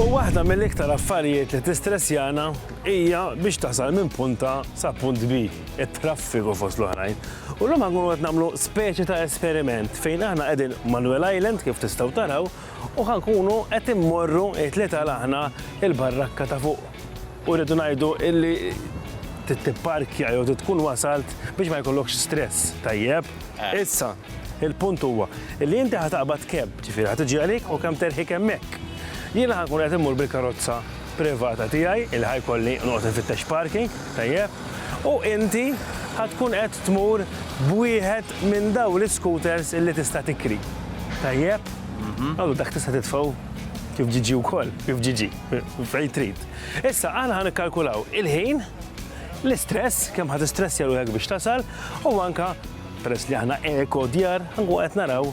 U waħda mill-iktar affarijiet li tistressjana hija biex tasal minn punt A sa punt B, it-traffiku fost l-oħrajn. U llum ħa nkunu qed nagħmlu speċi ta' esperiment fejn aħna qegħdin Manuel Island kif tistgħu taraw u ħa nkunu qed immorru it-tlieta l aħna il-barrakka ta' fuq u rridu ngħidu illi trid tipparkja jew trid tkun wasalt biex ma jkollokx stress, tajjeb? Issa, il-punt huwa illi inti ħa taqbad cab. Ġifieri ħa tiġi għalik u kemm terħik hemmhekk. Jiena ħa nkun qed immur bil-karozza privata tiegħi li ħa jkolli noqgħod infittex parking, tajjeb, u inti ħa tkun qed tmur b'wieħed minn dawn l-iscooters li tista' tikri. Tajjeb? Allura dak tista' titfgħu kif ġiġi wkoll, kif ġiġi, fejn trid. Issa aħna ħa nikkalkulaw il-ħin, l-istress, kemm ħa tistressja ruħek biex tasal, u anke peress li aħna eko djar, ħa nkun qed naraw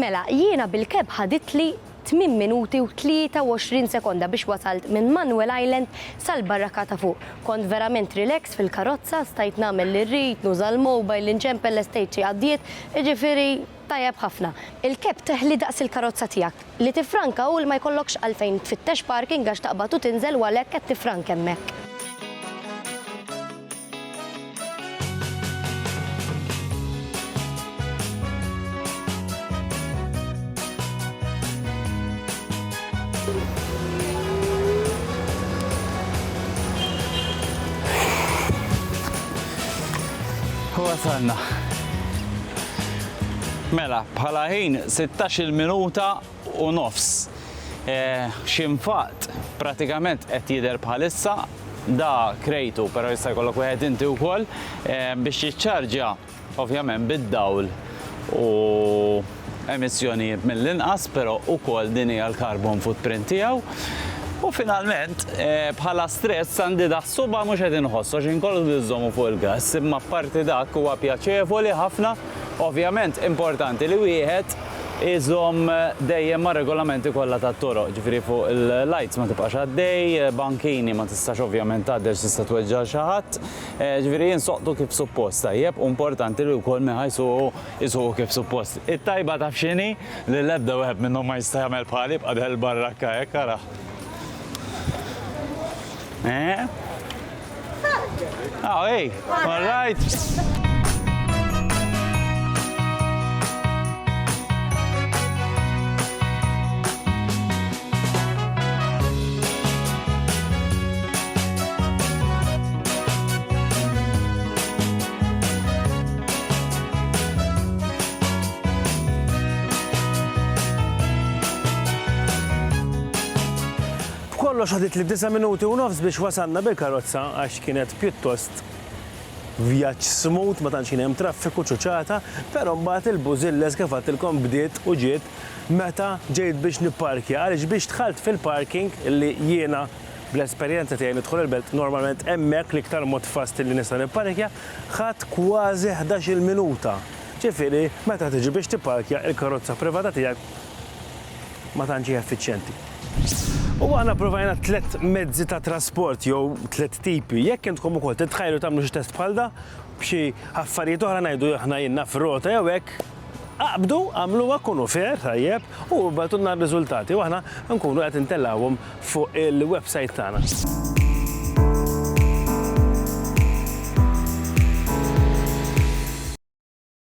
Mela, jiena bil-keb ħaditli 8 minuti u 23 sekonda biex wasalt minn Manuel Island sal-barraka ta' fuq. Kont verament relax fil-karozza, stajt nagħmel li rrid, nuża l-mobile, inċempel l-estate xi għaddiet, jiġifieri Tajjeb ħafna. Il-cap teħli daqs il-karozza tiegħek. Li tiffranka hu li ma jkollokx għalfejn tfittex parking għax taqbad u tinżel u għalhekk qed tiffrank hemmhekk. U wasalna. Mela, bħala ħin sittax-il minuta u nofs. X'infaqt pratikament qed jidher bħalissa, da krejtu però jista' jkollok wieħed inti wkoll, biex jiċċarġja ovvjament bid-dawl u emissjonijiet mill-inqas, però wkoll din hija l-carbon footprint tiegħu. U finalment, bħala stress għandi daħ-suba' mhux qed inħoss għax inkollu nżommu fuq il-gass imma apparti dak huwa pjaċevoli ħafna. Ovvjament importanti li wieħed iżomm dejjem mar-regolamenti kollha tat-toroq, ġifieri fuq il-lights ma tibqax għaddej, bankini ma tistax ovvjament tgħaddi għax tista' tweġġa' lil xi ħadd, ġifieri jinsoqtu kif suppost tajjeb u importanti li wkoll minn ħa jsuqu Isuqu kif suppost. It-tajba taf x'inhi? Li l-ebda wieħed minnhom ma jista' jagħmel bħali jibqa' deher il-barrakka hekk araħ. Eh? Ah, hey, all right. B'kollox ħadit li disa' minuti u nofs biex wasalna bil-karozza għax kienet pjuttost vjaġġ smut ma tantx kien hemm traffiku ċuċata, però mbagħad il-bużilla kif għadtilkom bdiet u ġiet Meta ġejt biex nipparkja, għaliex biex dħalt fil-parking li jiena bl-esperjenza tiegħi nidħol il-belt normalment hemmhekk l-iktar mod fast li nista' nipparkja, ħadt kważi ħdax-il minuta. Ġifieri meta tiġi biex tipparkja il-karozza privata tiegħek ma tantx hi effiċjenti. U aħna provajna tliet mezzi ta' trasport jew tliet tipi. Jekk intkom ukoll titħajru tagħmlu xi test bħal da, b'xi affarijiet oħra ngħidu aħna ilna f'rota jew hekk, Aqbdu, agħmluha, kunu fair, tajjeb, u ibgħatulna r-riżultati u aħna nkunu qed intellgħuhom fuq il-websajt tagħna.